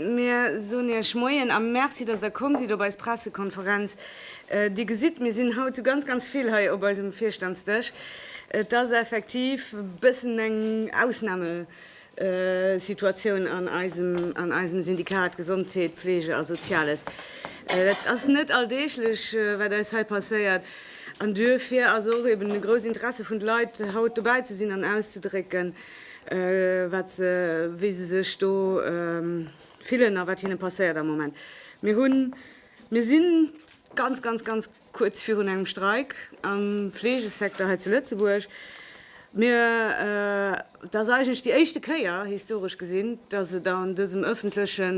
Mir soen Iech Moien a Merci, dass Der komm sidd op eis Pressekonferenz. Dir gesitt, mir sinn haut zu ganz, ganz vill hei op eisem Virstandsdësch. Et ass effektiv e bëssen eng Ausname, Situatioun an eisem Syndikat Gesondheet, Pflege a Soziales. Dat ass net alldeeglech, wat eis hei passéiert, an duerfir ass och eben e grousst Interesse vun de Leit, haut dobäi ze sinn an auszedrécken, wat se, wéi se sech do fillen a wat hinne passéiert am Moment. Mir hunn, mir si ganz, ganz, ganz. Kuerz virun engem Streik am Fleegesecteur hei zu Lëtzebuerg. Mir, et ass eigentlech déi éischte Kéier, historesch gesinn, datt et an dësem ëffentleche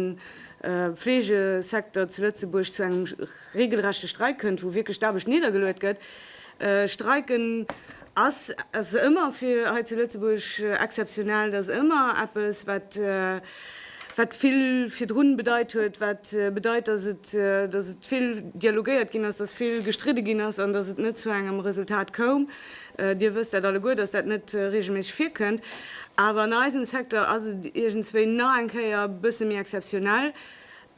Fleegesecteur zu Lëtzebuerg zu engem reegelrechte Streik kënnt, wou wierklech d'Aarbecht niddergeluet gëtt. Streiken ass ëmmer fir hei zu Lëtzebuerg exzeptionell. Dat ass ëmmer eppes, wat. wat vill virdrun bedeit huet, wat bedeit, dass et dass et vill dialogéiert ginn ass, dass vill gestridde ginn ass an dass et net zu engem Resultat koum. Dir wësst dat alleguer, dass dat net reegelméisseg virkënnt. Awer an eisem Secteur ass et iergendswéi nach eng Kéier e bësse méi exzeptionell.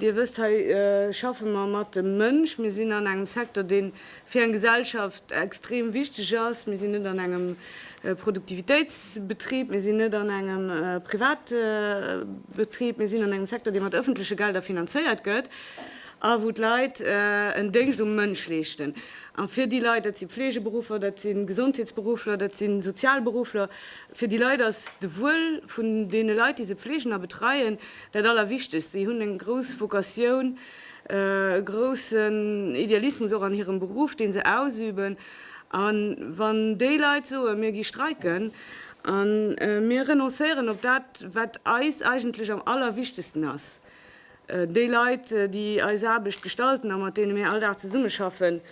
Dir wësst, hei schaffe mer mat dem Mënsch. Mir sinn an engem Secteur, dee fir eng Gesellschaft extrem wichteg ass. Mir sinn net an engem Produktivitéitsbetrib, mir sinn net an engem Privatbetrib, mir sinn an engem Secteur, dee mat ëffentleche Gelder finanzéiert gëtt a wou d'Leit en Déngscht um Mënsch leeschten. A fir déi Leit, dat si Fleegeberuffer, dat si Gesondheetsberuffler, dat si Sozialberuffler, fir déi Leit ass de Wuel vun deene Leit, déi se pfleegen a betreien, Dat Allerwichtegst, Si hunn eng grouss Vocatioun, e groussen Idealismus och an hirem Beruff, deen se ausüben. A wann déi Leit soen, mir gi streiken a mir renoncéieren op dat, wat eis eigentlech am Allerwichtegsten ass, déi Leit, déi eis Aarbecht gestalten a mat deene mir all Dag zesummeschaffen,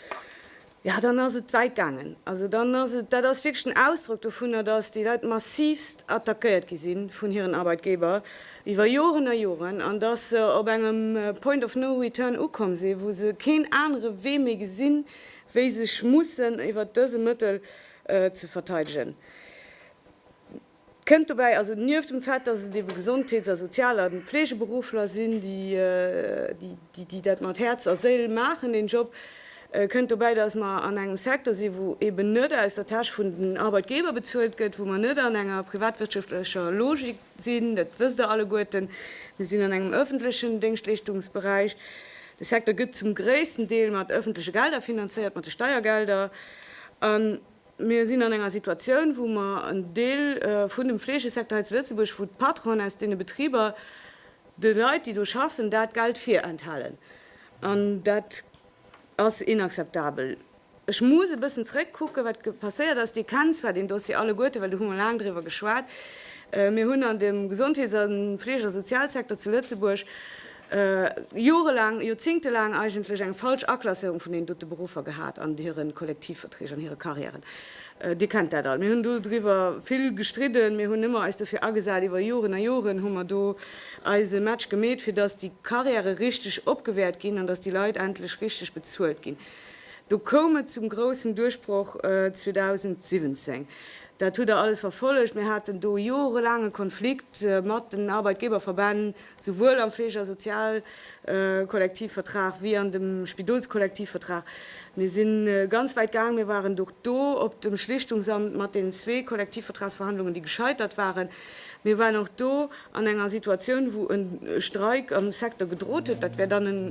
Ja, dann ass et wäit gaangen. Also dann ass et, dat ass wierklech den Ausdrock dovunner, dass déi Leit massivst attackéiert gi si vun hiren Arbeitgeber iwwer Joren a Joren an dass se op engem Point of no return ukomm si wou se keen anere Wee méi gesinn, wéi sech mussen iwwer dëse Mëttel ze verteidegen. Kënnt dobäi also nieft dem Fait, datt et ebe Gesondheets a Sozial a Fleegeberuffler sinn, déi dat mat Häerz a Séil maachen, deen Job, kënnt dobäi, datt mer an engem Secteur sinn, wou eben net aus der Täsch vun den Arbeitgeber bezuelt gëtt, wou mer net an enger privatwirtschaftlecher Logik sinn. Dat wësst Der alleguerten, Mir sinn an engem öffentlechen Déngschtleeschtungsberäich. De Secteur gëtt zum gréissten Deel mat öffentleche Gelder finanzéiert, mat de Steiergelder. Mir sinn an enger Situatioun, wou mer en Deel vun dem Fleegesecteur hei zu Lëtzebuerg, wou d'Patronen aus deene Betriber de Leit, déi do schaffen, dat Geld virenthalen. An dat ass inakzeptabel. Ech muss e bëssen zrëckkucken, wat passéiert ass. Dir kennt zwar deen Dossier alleguerten, well do hu mer laang driwwer geschwat. Mir hunn an dem Gesondheets a Fleeg a Sozialsecteur zu Lëtzebuerg jorelaang, joerzingtelaang eigentlech eng falsch Aklasséierung vun deenen dote Beruffer gehat an hire Kollektivverträg, an hire Carrièren. Dir kennt dat all. Mir hunn do driwwer vill gestridden, mir hunn ëmmer eis dofir agesat, iwwer Joren a Joren hu mer do eise Match gemeet, fir datt déi Carrièrë richteg opgewäert ginn an datt déi Leit endlech richteg bezuelt ginn. Do koum et zum groussen Duerchbroch 2017. Dat hutt Der alles verfollegt. Mir haten do jorelaange Konflikt mat den Arbeitgeberverbänn. souwuel am Fleege a Sozialkollektivvertrag wéi an dem Spidolskollektivvertrag. Mir si ganz wäit gaang, mir waren och do op dem Schlichtungsamt mat den zwee Kollektivvertragsverhandlungen, déi gescheitert waren. Mir waren och do an enger Situatioun, wou e Streik am Secteur gedrot huet. Dat wär dann e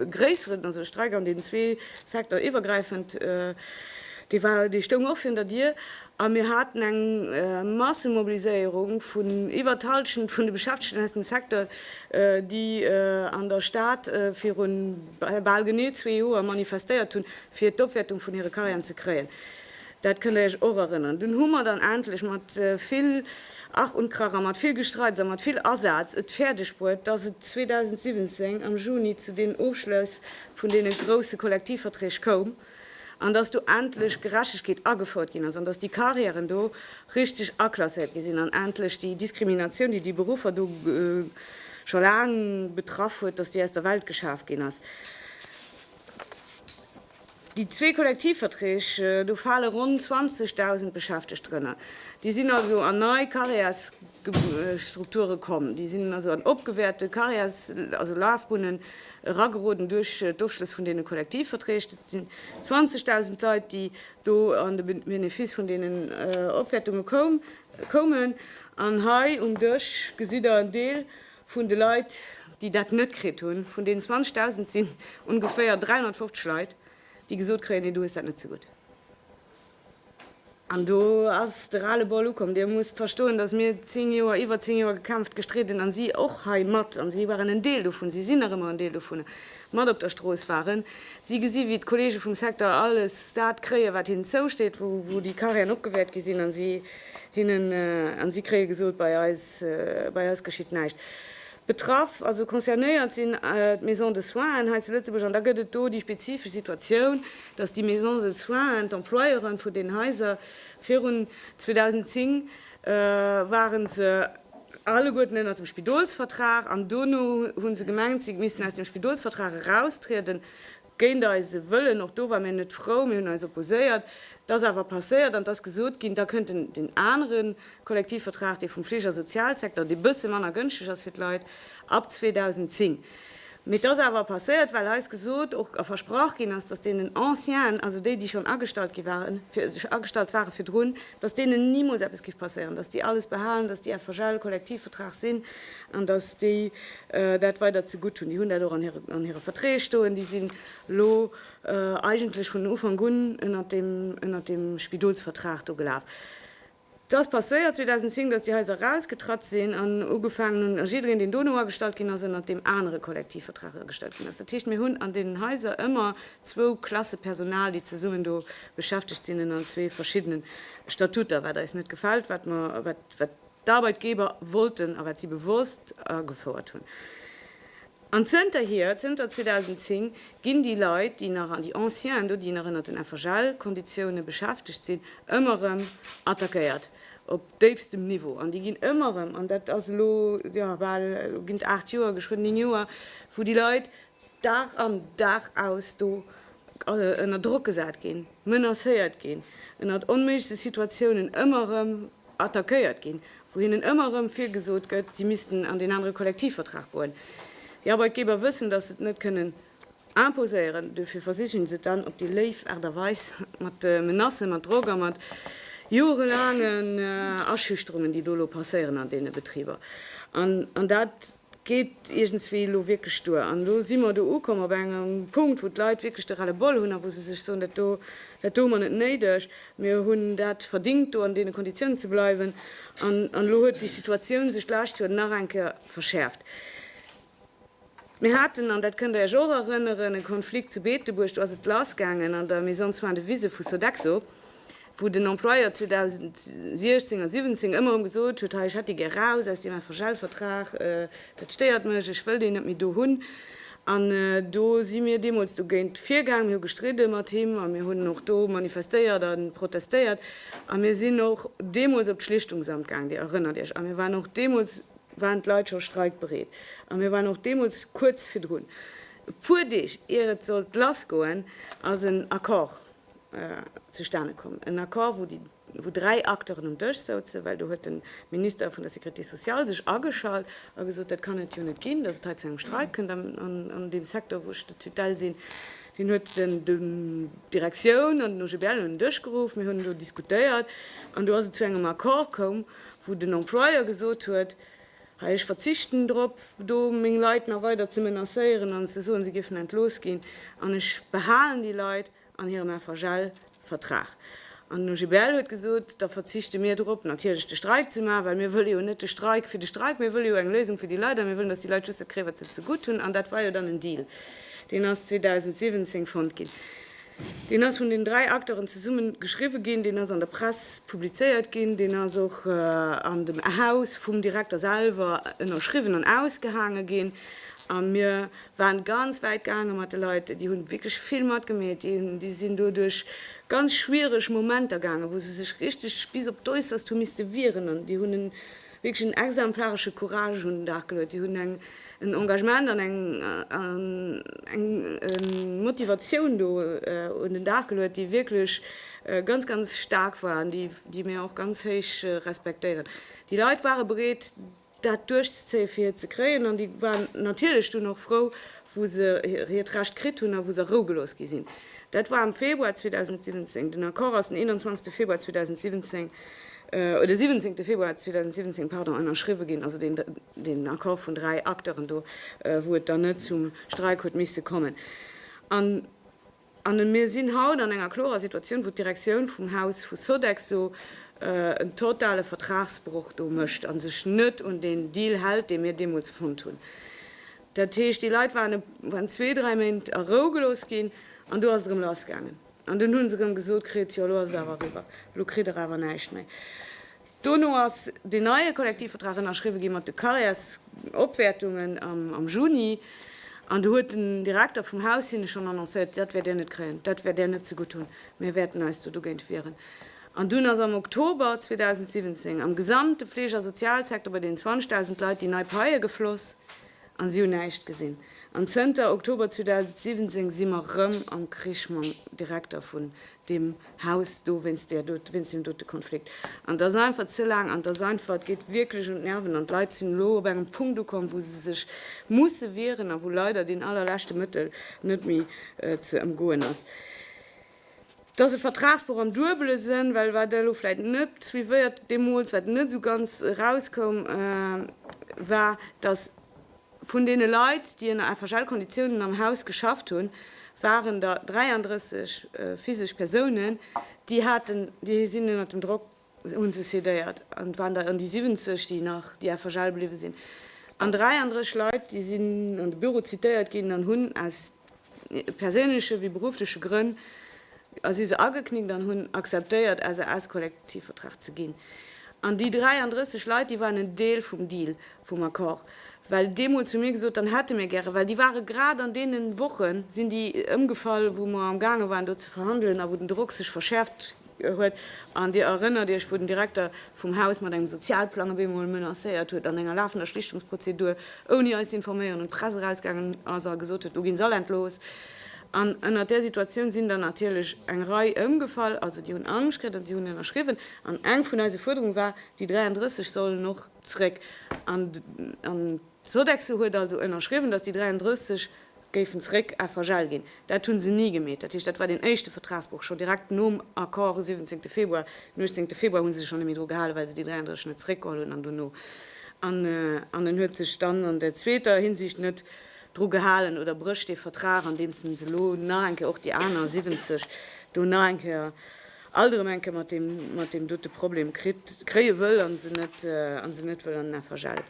gréisseren, also e Streik an deenen zwee Secteur-iwwergräifend, dee stoung och virun der Dier. A mir haten eng Massemobiliséierung vun iwwer d'Hallschent vun de Beschäftegten aus dem Secteur, déi an der Stad viru bal genee zwee Joer manifestéiert hunn, fir d'Opwäertung vun hire Carrièren ze kréien. Dat kënnt Dir Iech och erënneren. Dunn hu mer dann endlech mat vill Ach und Krach a mat vill Gestreits a mat vill Asaz et fäerdegbruet, dass et 2017 am Juni zu deenen Ofschlëss vun deene grousse Kollektivverträg koum, an dass do endlech Gerechtegkeet agefouert ginn ass an dass déi Carrièren do richteg aklasséiert gi sinn an endlech déi Diskriminatioun, déi déi Beruffer do scho laang betraff huet, dass déi aus der Welt geschaf ginn ass. Déi zwee Kollektivverträg, do fale ronn 20.000 Beschäftegt drënner. Déi sinn also an nei Carrièresstrukture komm, déi sinn also an opgewäerte Carrières, also Lafbunnen, erageroden duerch d'Ofschlëss vun deene Kollektivverträg. Dat sinn 20.000 Leit, déi do an de Benefice vun deenen Opwäertunge koumen. An hei um Dësch gesitt Der en Deel vun de Leit, déi dat net kritt hunn. Vun deenen 20.000 sinn ongeféier 350 Leit, déi gesot kréien, Nee, du hues dat net zegutt. An do ass de Ras-le-bol ukomm. Dir musst verstoen, datt mir zéng Joer, iwwer zéng Joer gekämpft, gestridden, a si och hei mat, a si waren en Deel dovun, si sinn nach ëmmer en Deel dovun, mat op der Strooss waren. Si gesi wéi d'Kollege vum Secteur alles dat kréien, wat hinnen zousteet, wou déi Carrièren opgewäert gi sinn, a si kréie gesot, bei eis geschitt näischt. Betraff, also concernéiert sinn d'Maisons de soins hei zu Lëtzebuerg. An da gëtt et do déi spezifesch Situatioun, dass déi Maisons de soins, d'Employeure vun deenen Haiser, virun 2010 ware se alleguerten ënnert dem Spidolsvertrag an dono hu se gemengt, si missten aus dem Spidolsvertrag eraustrieden. géint eise Wëllen, och do ware mir net frou, mir hunn eis opposéiert, et ass awer passéiert an et ass gesot ginn, da kënnt den anere Kollektivvertrag, dee vum Fligersozialsecteur, dee bësse manner gënschteg ass fir d'Leit, ab 2010. Mee et ass awer passéiert, well eis gesot och a versprach ginn ass, datt deenen Ancienen, also déi, déi schonn agestallt gi waren, agestallt ware virdrun, dass deenen nimools eppes géif passéieren, dass déi alles behalen, dass déi FHL, Kollektivvertrag sinn an dass déi dat weider zegutt hunn. Déi hunn dat och an hire Verträg stoen. Déi sinn elo eigentlech vun Ufank un ënnert deem Spidolsvertrag do gelaf. Et ass passéiert 2010, dass déi Haiser erausgetratt sinn an ugefaangen hunn, a jiddereen, deen dono agestallt ginn ass, ënnert deem anere Kollektivvertrag agestallt ginn ass. Dat heescht, mir hunn an deenen Haiser ëmmer zwou Klasse Personal, déi zesummen do beschäftegt sinn ënner zwee verschiddene Statuter, wat eis net gefält, wat mer, wat d'Arbeitgeber wollten a wat si bewosst agefouert hunn. An zënterhier, zënter 2010, ginn déi Leit, déi nach an déi Anciennë do, déi nach ënner den FHL-Konditioune beschäftegt sinn, ëmmer erëm attackéiert op déifstem Niveau. An déi ginn ëmmer erëm, an dat ass elo, jo, bal, elo ginn et aacht Joer, geschwënn néng Joer, wou déi Leit Dag an Dag aus do ënner Drock gesat ginn, menacéiert ginn, ënnert onméiglechste Situatiounen ëmmer erëm attackéiert ginn, wou hinnen ëmmer erëm virgesot gëtt, si missten an deen anere Kollektivvertrag goen. Déi Arbeitgeber wëssen, datt se et net kënnen imposéieren, duerfir versichen se et dann op déi léif Aart a Weis, mat Menacen, mat Drock a mat jorelaangen Aschüchterungen, déi do elo passéieren an deene Betriber. An dat. geet iergendswéi elo wierklech duer. An elo si mer do ukomm op engem Punkt, wou d'Leit wierklech de Ras-le-bol hunn a wou se sech soen, Dat do, dat do hu mer net néideg. Mir hunn dat verdingt, do an deene Konditiounen ze bleiwen. An elo huet déi Situatioun sech d'lescht Joer nach eng Kéier verschäerft. Mir haten, an dat kënnt Der Iech och erënneren, e Konflikt zu Beetebuerg, do ass et lassgaangen an der Maison de soins de Viseu vu Sodexo. wou den Employeur 2016 a 17 ëmmer erëm gesot huet, hei ech hätt déi gär raus aus deem FHL-Vertrag, dat stéiert mech, ech wëll déi net méi do hunn. An do si mir deemools dogéint virgaang, mir hu gestridde mat him a mir hunn och do manifestéiert a protestéiert a mir sinn och deemools op d'Schlichtungsamt gaang, Dir erënnert Iech. A mir waren och deemools, waren d'Leit scho streikbereet a mir waren och deemools kuerz virdrun. E puer Deeg ier et sollt lassgoen, ass en Accord zustane komm, en Accord, wou déi, wou dräi Acteuren um Dësch souzen, well do huet de Minister vun der Sécurité sociale sech ageschalt a gesot, dat kann et jo net ginn, datt et hei zu engem Streik kënnt an deem Secteur, wou ech de Tutelle sinn. Hien huet d'Direktioun an den OGBL un den Dësch geruff, mir hunn do diskutéiert an do ass et zu engem Accord komm, wou den Employeur gesot huet, Hei, ech verzichten drop, do meng Leit nach weider ze menacéieren an ze soen, se géifen entlooss ginn, an ech behalen déi Leit an hirem FHL-Vertrag. An den OGBL huet gesot, da verzichte mir drop, natierlech de Streik ze maachen, well mir wëlle jo net de Streik fir de Streik, mir wëlle jo eng Léisung fir déi Leit a mir wëllen, datt déi Leit just dat kréien, wat se zegutt hunn. An dat war jo dann en Deal, deen ass 2017 fonnt ginn. Deen ass vun den dräi Acteuren zesumme geschriwwe ginn, deen ass an der Press publizéiert ginn, deen ass och an dem Haus vum Direkter selwer ënnerschriwwen an ausgehaange ginn. A mir waren ganz wäit gaange mat de Leit, déi hunn wierklech vill matgemeet, déi sinn do duerch ganz schwiereg Momenter gaangen, wou se sech richteg bis op d'Äusserst hu misste wieren an déi hunn en wierklech en exemplaresche Courage un den Dag geluet. Déi hunn en Engagement an eng Motivatioun do un den Dag geluet, déi wierklech ganz, ganz staark war an déi mir och ganz héich respektéieren. Déi Leit ware bereet, dat duerchzezéien, fir et ze kréien, an déi waren natierlech dunn och frou, wou se hiert Recht kritt hunn a wou se a Rou gelooss gi sinn. Dat war am Februar 2017. Den Accord ass den 21. Februar 2017 den 17 Februar 2017, pardon, ënnerschriwwe ginn, also deen, deen Accord vun dräi Acteuren do, wou et dann net zum Streik huet misste kommen. An, an mir sinn haut an enger klorer Situatioun, wou d'Direktioun vum Haus vu Sodexo en totale Vertragsbroch do mécht a sech net un deen Deal hält, dee mir deemools fonnt hunn. Dat heescht, déi Leit waren, waren zwee, dräi Méint a Rou gelooss ginn, an do ass et erëm lassgaangen. An dunn hu se erëm gesot kritt, jo elo ass et awer eriwwer, elo kritt der awer näischt méi. Dono ass deen neie Kollektivvertrag ënnerschriwwe gi mat de Carrièresopwäertungen am Juni. An do huet den Direkter vum Haus hinne schonn annoncéiert, dat wäert Dir net kréien, dat wäert Dir net zegutt hunn, mir wäerten eis do dogéint wieren. An dunn ass am Oktober 2017 am gesamte Fleeg a Sozialsecteur bei deenen 20.000 Leit déi nei Paie gefloss. An si hunn näischt gesinn. An zënter Oktober 2017 si mer rëm am Krich mam Direkter vun deem Haus do wéinst där do, wéinst deem dote Konflikt. An et ass einfach ze laang an et ass einfach, et geet wierklech un d'Nerven. An d'Leit sinn elo op engem Punkt ukomm, wou se sech musse wieren a wou leider deen allerleschte Mëttel net méi ze ëmgoen ass. Et ass e Vertragsbroch am duebele Sënn, well wat elo vläicht net suivéiert deemools, wat net esou ganz erauskoum, war, datt vun deene Leit, déi ënner FHL-Konditiounen am Haus geschafft hunn, waren der 33 physesch Persounen, déi haten, déi sinn ënner dem Drock hunn se cédéiert an et waren der ëm déi 70, déi nach déi FHL bliwwe sinn an 33 Leit, déi sinn an de Büro zitéiert ginn an hunn aus perséinleche wéi beruffleche Grënn si se ageknickt an hunn acceptéiert SAS-Kollektivvertrag ze ginn. An déi 33 Leit, déi waren en Deel vum Deal, vum Accord, well dee mol zu mir gesot, dann hätte mir gäre, well déi ware grad an deene Woche sinn déi ëmgefall, wou mer amgaange waren do ze verhandelen a wou den Drock sech verschäerft huet, an Dir erënnert Iech, wou den Direkter vum Haus mat engem Sozialplang op eemol menacéiert huet, an enger lafender Schlichtungsprozedur, ouni eis ze informéieren, un d'Press erausgaangen ass a gesot huet, elo ginn se all entlooss. An ënnert där Situatioun sinn der natierlech eng Rei ëmgefall, also déi hunn Angscht kritt an déi hunn ënnerschriwwen, an eng vun eise Fuerderung war, déi 33 sollen och zréck. Sodexo huet also ënnerschriwwen, datt déi 33 géifen zeréck à vergel ginn. Dat hu se ni gemeet. Dat heescht, dat war deen éischte Vertragsbroch schonn direkt nom Accord u 17. Februar. Den 18. Februar hu se sech schonn net méi dru gehalen, well se déi 33 net zeréckgeholl hunn an dono. An an en huet sech dann an der zweeter Hinsicht net dru gehalen oder brécht dee Vertrag, andeems en se elo nach eng Kéier och déi aner 70 do nach eng Kéier alt erëm eng Kéier mat deem mat deem dote Problem kritt kréie wëll a se net a se net wëll an den FHL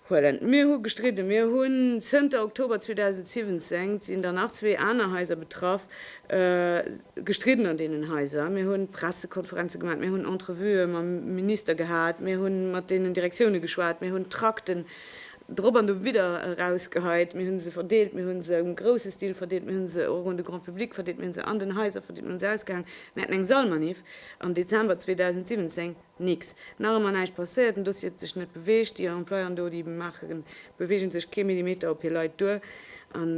huelen. Mir hu gestridde, mir hunn zënter Oktober 2017, sinn der nach zwee aner Haiser betraff, gestridden an deenen Haiser, mir hunn Pressekonferenze gemaach, mir hunn Entrevuë mam Minister gehat, mir hu mat deenen Direktioune geschwat, mir hunn Trakten Drop an do widder erausgeheit. Mir hunn se verdeelt, mir hunn se um grousse Stil verdeelt, mir hunn se och un de Grand Public verdeelt, mir hunn se an den Haiser verdeelt, mir hunn se ausgehaangen. Mir haten eng Sallmaniff am Dezember 2017, nix, nach ëmmer näischt passéiert, den Dossier huet sech net beweegt, déi Employéen do, déi maachen, beweegen sech kee Millimeter op hir Leit duer an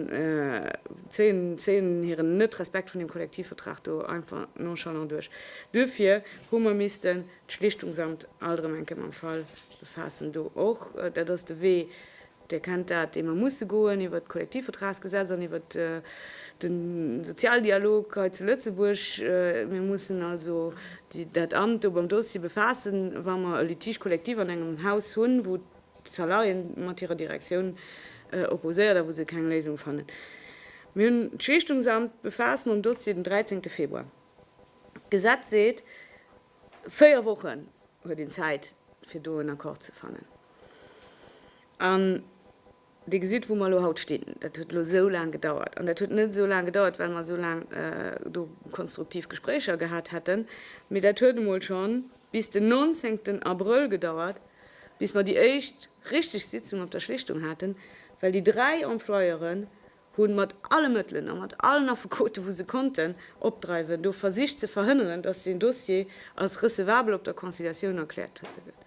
zéien, zéien hiren Net-Respekt vun deem Kollektivvertrag do einfach nonchalant duerch. Duerfir hu mer missten. D'Schlichtungsamt Aldremenke mam Fall befaassen do och. Dat ass de Wee, Dir kennt dat, dee mer musse goen, iwwert d'Kollektivvertragsgesetz an iwwert de Sozialdialog hei zu Lëtzebuerg. Mir mussen also dat Amt do mam Dossier befaassen, wa mer e Litige collectif an engem Haus hunn, wou d'Salarié mat hirer Direktioun opposéiert a wou se keng Léisung fannen. Mir hunn d'Schlichtungsamt befaasst mam Dossier den 13. Februar. D'Gesetz seet, véier Wochen huet een Zäit, fir do en Accord ze fannen. An Dir gesitt, wou mer elo haut stinn. Dat huet elo esou laang gedauert. An dat huet net esou laang gedauert, well mer esou laang do konstruktiv Gespréicher gehat hätten, mee dat huet emol scho bis den 19 Abrëll gedauert, bis mer déi éischt richteg Sitzung op der Schlichtung haten, well déi dräi Employeuren hunn mat alle Mëttelen a mat allen Affekoten, wou se konnten opdreiwen, do versicht ze verhënneren, dass deen Dossier als recevabel op der Conciliatioun erkläert gëtt.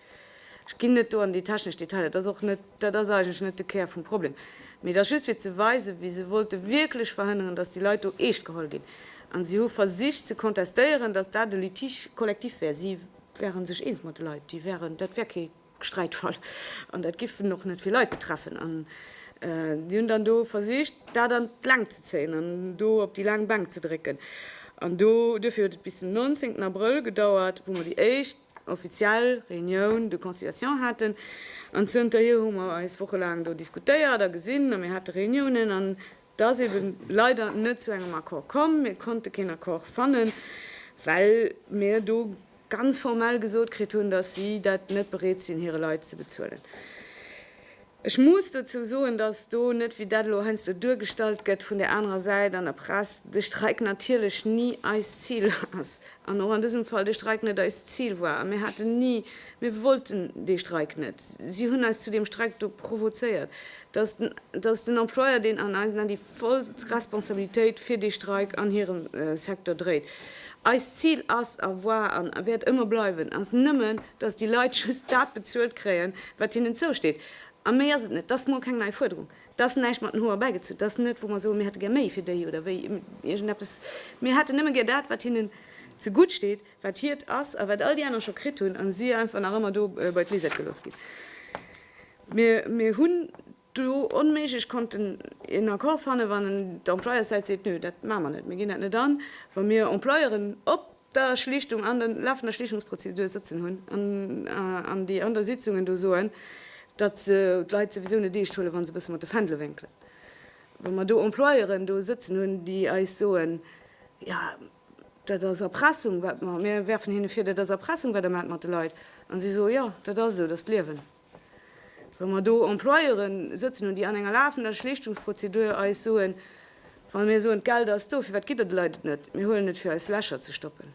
Ech ginn net do an déi technesch Detailer, dat ass och net, dat ass eigentlech net de Kär vum Problem, mee et ass just fir ze weisen, wéi se wollte wierklech verhënneren, dass déi Leit do eescht geholl ginn, a si hu versicht ze contestéieren, dass dat e Litige collectif wär, si wäere sech eens mat de Leit, déi wäeren, dat wär kee. Sträitfall. An dat géif en och net vill Leit betreffen. An si hunn dann do versicht, dat an d'Längt ze zéien an do op déi laang Bänk ze drécken. An do, duerfir huet et bis den 19 Abrëll gedauert, wou mer déi éischt offiziell Réunioun de conciliation haten. An zënterhier hu mer eis wochelaang do diskutéiert a gesinn a mir hate Réuniounen. An et ass eebe leider net zu engem Accord komm. Mir konnte keen Accord fannen, well mir do ganz formell gesot kritt hunn, datt si dat net bereet sinn hire Leit ze bezuelen. Ech muss dozou soen, datt do net, wéi dat elo heiansdo duergestallt gëtt vun där anerer Säit an der Press, de Streik natierlech ni eist Zil ass an och an dësem Fall de Streik net eist Zil war. A mir haten ni, mir wollten dee Streik net. Si hunn eis zu deem Streik do provozéiert, datt den Employeur, deen an eisen Ae voll Responsabilitéit fir dee Streik an hirem Secteur dréit. Eist Zil ass a war a wäert ëmmer bleiwen, ass nëmmen, dass déi Leit just dat bezuelt kréien, wat hinnen zousteet. A méi ass et net. Dass mol keng nei Fuerderung. Dass en näischt mat den Hoer erbäigezunn. Dass net, wou mer soen, mir hätte gär méi fir déi oder wéi iergend eppes. Mir hätten nëmme gär dat, wat hinnen zegutt steet, wat hiert ass a wat all déi aner scho kritt hunn a si einfach nach ëmmer do bei d'Lisette gelooss ginn. Mir hunn. do onméiglech konnten een Accord fannen, wann d'Employerssäit seet, nö, dat maache mer net, mir ginn dat net an, wa mir Employeuren op der Schlichtung, an der lafender Schlichtungsprozedur sëtzen hunn an an déi an der Sitzungen do soen, datt se d'Leit souwisou net eescht huelen, wa se e bësse mat de Fändele wénkelen, wa mer do Employeuren do sëtzen hunn, déi eis soen, jo, dat ass Erpressung, wat mer, mir werfen hinne vir, dat ass Erpressung, wat Der maacht mat de Leit, a si soen, jo, dat ass esou, dat ass d'Liewen. Wa mer do Employeuren sëtzen hunn, déi an enger lafender Schlichtungsprozedur eis soen, wa mir soen, d'Geld ass do, firwat gitt Der de Leit et net? Mir huelen et, fir eis Lächer ze stoppen.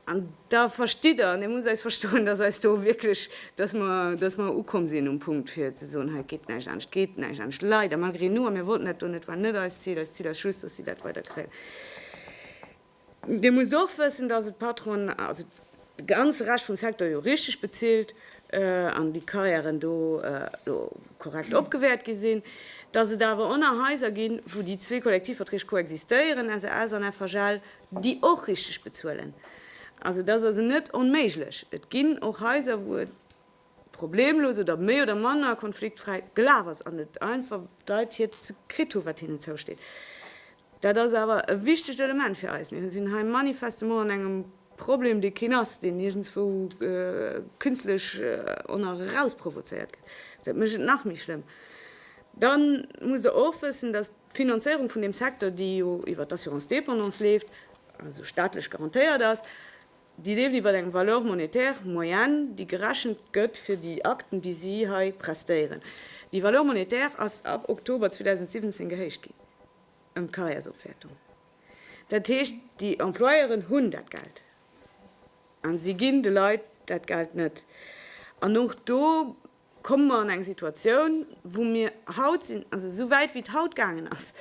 An da verstitt Der, an Dir musst eis verstoen, dass eis do wierklech, dass mer, dass mer ukomm sinn um Punkt, fir ze soen, hei geet näischt anescht, geet näischt anescht, leider, malgré nous, a mir wollten dat do net, war net eist Zil. Eist Zil ass just, dass si dat weider kréien. Dir musst och wëssen, dass et d'Patronen, also de ganze Rescht vum Secteur jo richteg bezilt an déi Carrièren do elo korrekt opgewäert gi sinn, dass et awer och nach Haiser ginn, wou déi zwee Kollektivverträg koexistéieren, SAS an FHL, déi och richteg bezuelen. Also, et ass also net onméiglech. Et ginn och Haiser, wou et problemlos oder méi oder manner konfliktfräi gelaf ass an et einfach d'Leit hiert ze kritt hu wat hinnen zousteet. Dat ass awer e wichtegt Element fir eis. Mir sinn hei manifestement an engem Problem, dee keen ass, deen iergendzwou künstlech erausprovozéiert gëtt. Dat mécht et nach méi schlëmm. Da musst Der och wëssen, datt d'Finanzéierung vun deem Secteur, déi jo iwwert d'Assurance dépendance leeft, also staatlech garantéiert ass, Déi leeft iwwer eng Valeur monétaire, Moyenne, déi gerechent gëtt fir déi Akten, déi si hei prestéieren. Déi Valeur monétaire ass ab Oktober 2017 gehéicht ginn ëm d'Karriärsopwäertung. Dat heescht, déi Employeuren hunn dat Geld a si ginn de Leit dat Geld net. An och do. Komme mer an eng Situatioun, wou mir haut sinn, also esou wäit wéi et haut gaangen ass,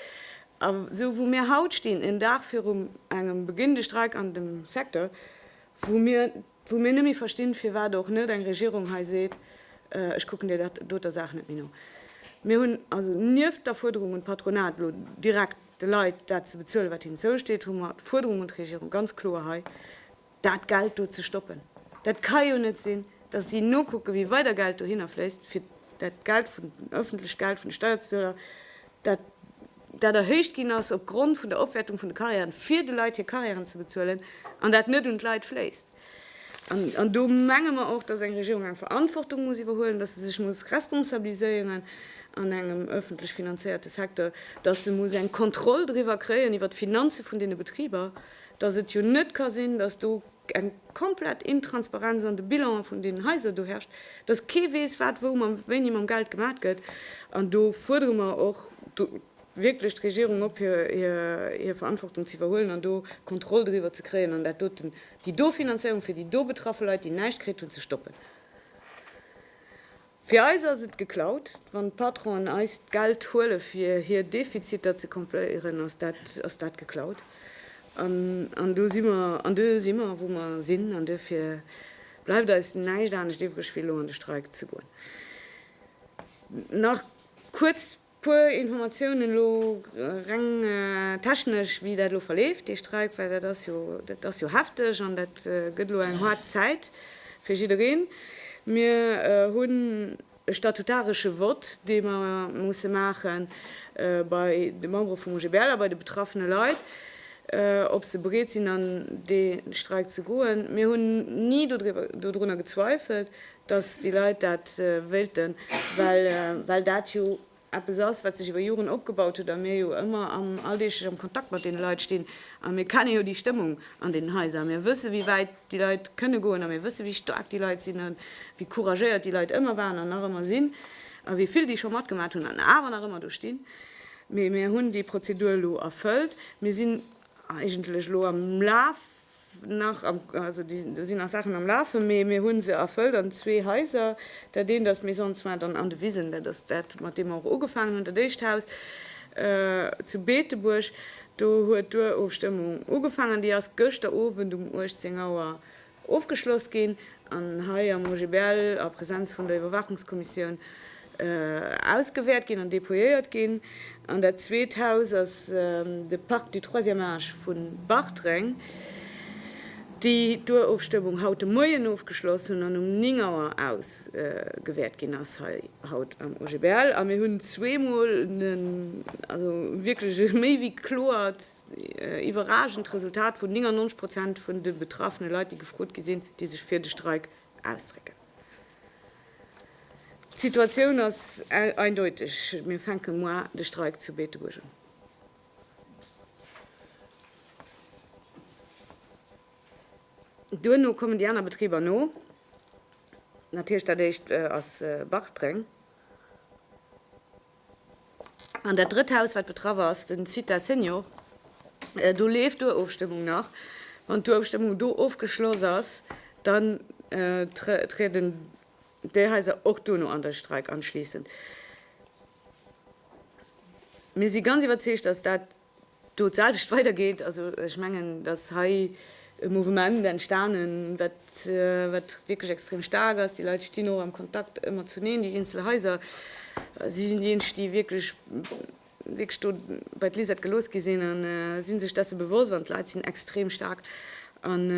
a sou wou mir haut stinn, en Dag virum engem beginnende Streik an dem Secteur, wou mir, wou mir net méi verstinn, firwat och net eng Regierung hei seet, Ech kucken där doter Saach net méi no. Mir hunn also nieft der Fuerderung un d'Patronat, elo direkt de Leit dat ze bezuelen, wat hinnen zousteet, hu mer d'Fuerderung un d'Regierung, ganz kloer hei, dat Geld do ze stoppen. Dat ka jo net sinn, datt si nokucken, wéi weider Geld dohinner fléisst, fir dat Geld vun den, öffentlecht Geld vun de Steierzueler, dat dat erhéicht ginn ass opgrond vun der Opwäertung vun de Carrièren, fir de Leit hir Carrièren ze bezuelen, an dat net un d'Leit fléisst. An an do menge mer och, datt eng Regierung eng Verantwortung muss iwwerhuelen, datt se sech muss responsabiliséieren an engem öffentlech finanzéierte Secteur, datt se muss eng Kontroll driwwer kréien, iwwer d'Finanze vun deene Betriber. dass et jo net ka sinn, dass do eng komplett Intransparenz an de Bilanen vun deenen Haiser do herrscht, dass kee weess, wat wou mam wéini mam Geld gemat gëtt. An do fuerdere mer och wierklech d'Regierung op, hir Verantwortung ze iwwerhuelen an do Kontroll driwwer ze kréien an dat doten, déi do Finanzéierung fir déi do betraffe Leit, déi näischt kritt hunn, ze stoppen. Fir eis ass et geklaut. Wann d'Patronen eis d'Geld huele fir hir Defiziter ze combléieren, ass dat ass dat geklaut. An do si mer, an do si mer wou mer sinn. An duerfir bleift eis näischt anescht iwwreg wéi elo an de Streik ze goen. Nach kuerz Puer Informatiounen elo reng technesch, wéi dat elo verleeft, dee Streik, well dat ass jo, dat ass jo hefteg an dat gëtt elo eng haart Zäit fir jiddereen. Mir hunn e statutaresche Vott, dee mer musse maache bei de Membere vum OGBL a bei de betraffene Leit, ob se bereet sinn, an dee Streik ze goen. Mir hunn ni dodriwwer, dodrunner gezweifelt, dass déi Leit dat wéilten, well dat jo eppes ass, wat sech iwwer Joren opgebaut huet a mir jo ëmmer alldeeglech am Kontakt mat deene Leit stinn a mir kennen jo déi Stëmmung an deenen Haiser. Mir wësse wéi wäit déi Leit kënne goen a mir wësse wéi staark déi Leit sinn a wéi couragéiert déi Leit ëmmer waren an nach ëmmer sinn a wéi vill déi scho matgemaat hunn an awer nach ëmmer do stinn. Mee mir hunn déi Prozedur elo erfëllt. Mir sinn eigentlech elo am Laf nach am, also do sinn nach Saachen am Lafen, mee mir hu se erfëllt an zwee Haiser. Dat eent ass d'Maison de soins dann an de Wisen, dat ass dat, mat deem mer och ugefaangen hunn, dat éischt Haus zu Beetebuerg. Do huet d'Urofstëmmung ugefaangen, déi ass gëschter Owend um 18 Auer ofgeschloss ginn an hei am OGBL a Präsenz vun der Iwwerwaachungskommissioun ausgewäert ginn an dépouilléiert ginn. An dat zweet Haus ass de Parc du troisième âge vu Bartreng, déi d'Urofstëmmung haut de Moien ofgeschloss hunn an um 9 Auer ausgewäert ginn ass hei haut am OGBL. A mir hunn zweemol en, also wierklech e méi wéi kloert, iwwerragend Resultat vun 99 Prozent vun de betraffene Leit, déi gefrot gi sinn, déi sech fir de Streik ausdrécken. D'Situatioun ass eindeuteg, mir fänke moar de Streik zu Beetebuerg un. Duerno kommen déi aner Betriber no, dat heescht dat éischt ass Bartreng. An dat drëtt Haus, wat betraff ass, den Cita Senior, do leeft d'Urofstëmmung nach. Wann d'Urofstëmmung do ofgeschloss ass, dann trieden déi Haiser och dono an de Streik an, schliessend. Mir si ganz iwwerzeegt, dass dat do d'selwecht weidergeet. Also ech mengen, dass hei e Mouvement entstanen, wat, wat wierklech extrem staark ass. Déi Leit stinn och am Kontakt ëmmer zuneen, déi eenzel Haiser. Si sinn déi eenzeg, déi wierklech, wierklech do bei d'Lisette gelooss gi sinn a si sech dessen bewosst. An d'Leit sinn extrem staark an,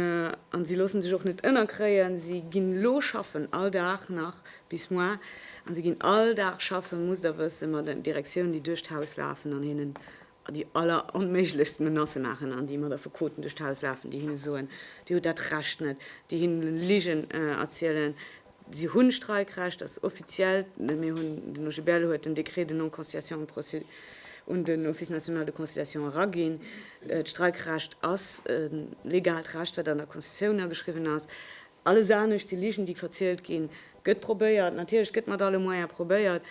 an si loosse sech och net ënnerkréien. Si ginn elo schaffen, all Dag nach, Bis muar, an si ginn all Dag schaffen, musst der wëssen, mat den Direktiounen, déi duerch d'Haus lafen an hinnen déi alleronméiglechst Menacë maachen, an déi mat Affekoten duerch d'Haus lafen, déi hinne soen, Dir hutt dat Recht net, déi hinne Ligen erzielen, si hunn Streikrecht, dat ass offiziell, mir hunn, den OGBL huet den Décret de non-conciliation un den Office national de conciliation eraginn, d'Streikrecht ass e legaalt Recht, wat an der Constitutioun ageschriwwen ass. Alles anescht si Ligen, déi verzielt ginn. Et gëtt probéiert, natierlech, et gëtt mat alle Moyene probéiert.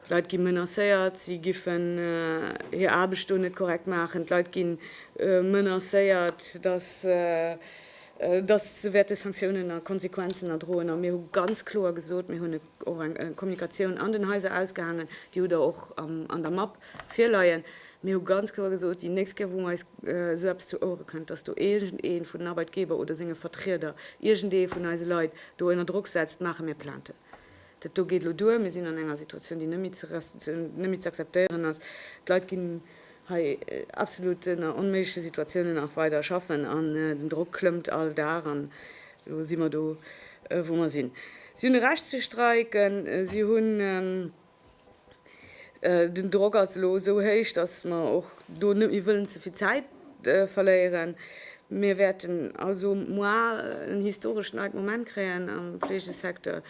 D'Leit gi menacéiert, si giffen hir Aarbecht do net korrekt maachen. D'Leit gi menacéiert, dass se wäerte Sanktiounen a Konsequenzen erdroen. A mir hu ganz kloer gesot, mir hunn e. och eng Kommunikatioun an den Haiser ausgehaangen, déi hutt Der och an der Mapp virleien. Mir hu ganz kloer gesot, déi nächst Kéier, wou eis esou eppes zu Ouere kënnt, datt do iergendee vun den Arbeitgeber oder senge Vertrieder iergendee vun eise Leit do ënner Drock setzt, maache mir Plainte. Dat do geet elo duer. Mir sinn an enger Situatioun, déi net méi ze akzeptéieren ass. D'Leit ginn hei absolut ënner onméigleche Situatiounen nach weider schaffen an den Drock klëmmt all Dag an elo si mer do, wou mer sinn. Si hunn e Recht ze streiken. Si hunn, den Drock ass elo esou héich, dass mer och do net méi wëllen ze vill Zäit verléieren, Mir wäerten also moar en historesch neit Moment kréien am Fleegesecteur.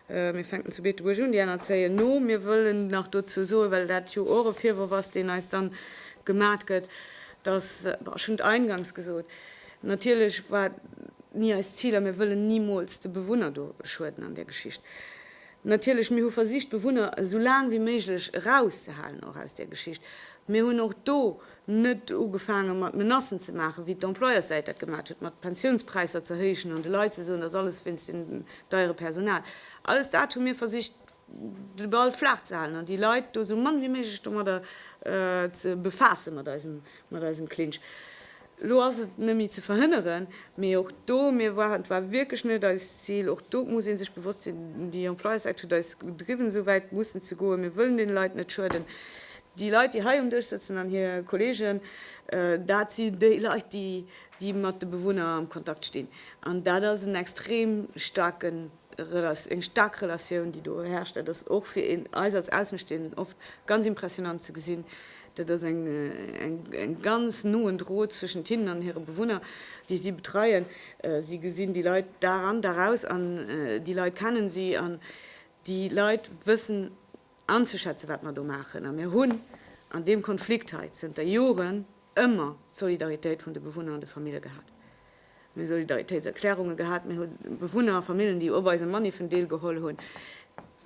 Mir fänken zu Beetebuerg un, déi aner zéien no. Mir wëllen nach dozou soen, well dat jo och e Virworf ass, deen eis dann gemat gëtt, dass, ech hunn et eingangs gesot, natierlech war et ni eist Zil a mir wëllen nimools de Bewunner do schueden an där Geschicht. Natierlech, mir hu versicht d'Bewunner esou laang wéi méiglech erauszehalen och aus där Geschicht. Mir hunn och do Net ugefaange mat Menacen ze maachen, wéi d'Employerssäit dat gemaacht huet, mat Pensiounspräisser ze héichen an de Leit ze soen, dass alles wéinst dem deiere Personal. Alles dat hu mir versicht de Ball flaach ze halen an déi Leit do esou mann wéi méiglech domadder ze befaassen, mat eisem Klinsch. Elo ass et net méi ze verhënneren, mee och do, mir waren, et war wierklech net eist Zil, och do muss ee sech bewosst sinn, déi Employerssäit huet eis gedriwwen esou wäit mussen ze goen, mir wëllen deene Leit net schueden. Déi Leit, déi hei um Dësch sëtzen an hir Kolleegen, dat si déi Leit, déi, déi mat de Bewunner am Kontakt stinn. An dat ass en extrem staarke, eng staark Relatioun, déi do herrscht. Dat ass och fir eis als Außenstehenden oft ganz impressionant ze gesinn. Dat ass eng, eng ganz noen Drot zwëschent hinnen an hire Bewunner, déi si betreien. Si gesinn déi Leit Dag an, Dag aus an déi Leit kennen si an déi Leit wëssen, anzeschätzen, wat mer do maachen. A mir hunn an deem Konflikt hei zënter Joren ëmmer d'Solidaritéit vun de Bewunner an de Famille gehat. Mir hu Solidaritéitserklärunge gehat, mir hu Bewunner a Famillen, déi op eise Maniffen deelgeholl hunn.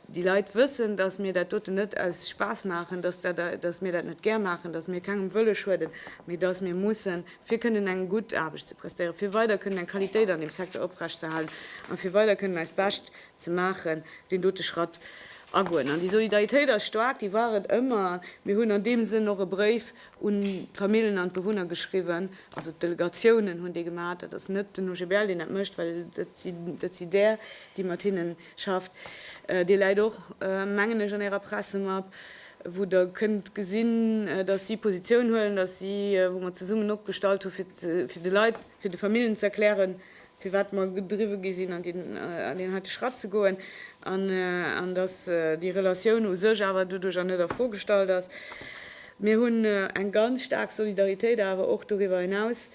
Déi Leit wëssen, datt mir dat doten net aus Spaass maachen, datt mir dat net gär maachen, datt mir kengem wëlle schueden, mee datt mir mussen, fir kënnen eng gutt Aarbecht ze prestéieren, fir weider kënnen eng Qualitéit an deem Secteur oprechtzehalen a fir weider kënnen eist Bescht ze maachen, deen dote Schratt agoen. An déi Solidaritéit ass staark, déi war et ëmmer. A mir hunn an deem Sënn och e Bréif un d'Famillen an d'Bewunner geschriwwen, also d'Delegatiounen hunn dee gemaach, dat ass net den OGBL, deen dat mécht, well dat si där, déi mat hinne schafft. Dee läit och, mengen ech, an Ärer Pressemapp, wou Der kënnt gesinn, datt si Positioun huelen, datt si, wou mer zesummen opgestallt hu fir de Leit, fir de Famillen ze erklären, firwat mer gedriwwe gi sinn, an deen heite Schratt ze goen, an datt déi Relatioun u sech awer doduercher net a Fro gestallt ass. Mir hunn eng ganz staark Solidaritéit awer och doriwwer hinaus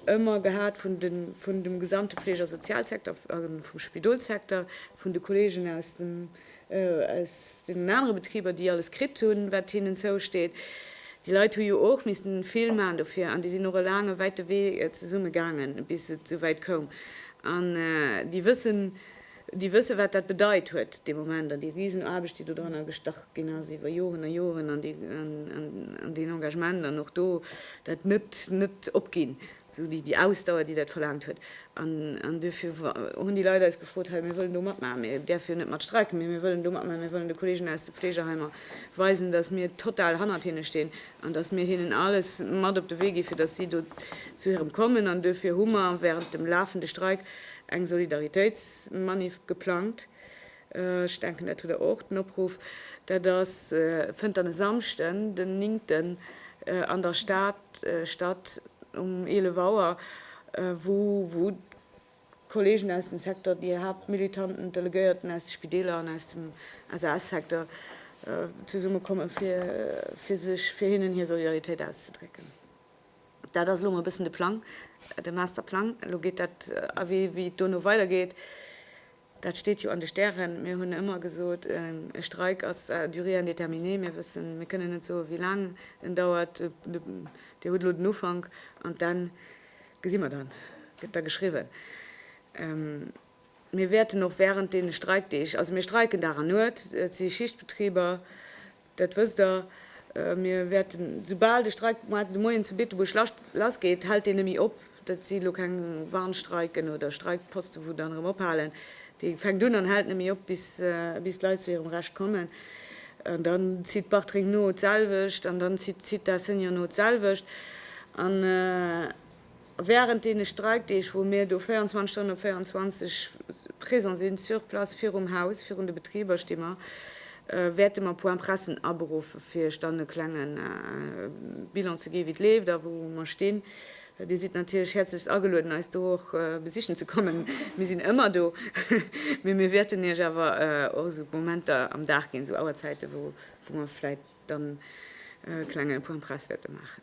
ëmmer gehat vun dem gesamte Fleeg a Sozialsecteur, vum Spidolssecteur, vun de Kolleegen aus dem. aus deenen anere Betriber, déi alles kritt hunn, wat hinnen zousteet. Déi Leit hu jo och missten vill maachen dofir an déi sinn och e laange, wäite Wee zesumme gaangen, bis et esouwäit koum. An déi wëssen, déi wëssen, wat dat bedeit huet dee Moment an déi Risenaarbecht, déi dodranner gestach ginn ass iwwer Joren a Joren an deen Engagement an och do dat net, net opginn. Esou déi Ausdauer, déi dat verlaangt huet. An duerfir hunn déi Leit eis gefrot, Hei, mir wëllen do matmaachen. Mir däerfe jo net mat streiken, mee mir wëllen do matmaachen. Mir wëllen de Kolleegen aus de Fleegeheimer weisen, datt mir total hannert hinne stinn an datt mir hinnen alles mat op de Wee gi fir datt si do zu hirem kommen. An duerfir hu mer wärend dem lafende Streik eng Solidaritéitsmanif geplangt. Ech denken, dat hutt Der och, den Opruff, dat ass, fënnt dann e Samschden, den Néngten an der Stad statt um 11 Auer, wou d'Kollegen aus dem Secteur, déi Haaptmilitanten, d'Delegéierten aus de Spideeler an aus dem SAS-Secteur zesummekommen, fir sech fir hinnen hir Solidaritéit auszedrécken. Dat ass elo emol e bëssen de Plang, de Masterplang. Elo geet dat awee, wéi et dono weidergeet. Dat steet jo an de Stären. Mir hunn ëmmer gesot, e Streik ass à durée indéterminée. Mir wëssen, mir kënnen net soen, wéi laang en dauert. Dir hutt elo den Ufank an d'Enn gesi mer dann, gëtt da geschriwwen. Mir wäerten och wärend deene Streikdeeg, also mir streiken Dag an Nuet, et si Schichtbetriber, Dat wësst der, mir wäerten, soubal de Streik moarn de Moien zu Beetebuerg lassgeet, hält deen net méi op, dat si lo keng Warnstreiken oder Streikposte wou dann erëm ophalen, dee fänkt un an hält net méi op bis d'Leit zu hirem Recht kommen. An dann zitt Bartreng no d'selwecht an dann zitt d'Asséigne no d'selwecht. Wärend deene Streikdeeg, wou mir do 24 Stonnen op 24 présent sinn, sur place, virum Haus, virun de Betriber sti mer, wäerte mer Point-pressen aberuffen, fir iech dann e klenge Bilan ze ginn, wéi et leeft a wou mer stinn. Dir sidd natierlech häerzlechst agelueden, eis do och besichen ze kommen. Mir sinn ëmmer do, mee mir wäerten iech awer och esou Momenter am Dag ginn, esou Auerzäiten, wou mer vläit. dann e klenge Point Presse wäerte maachen.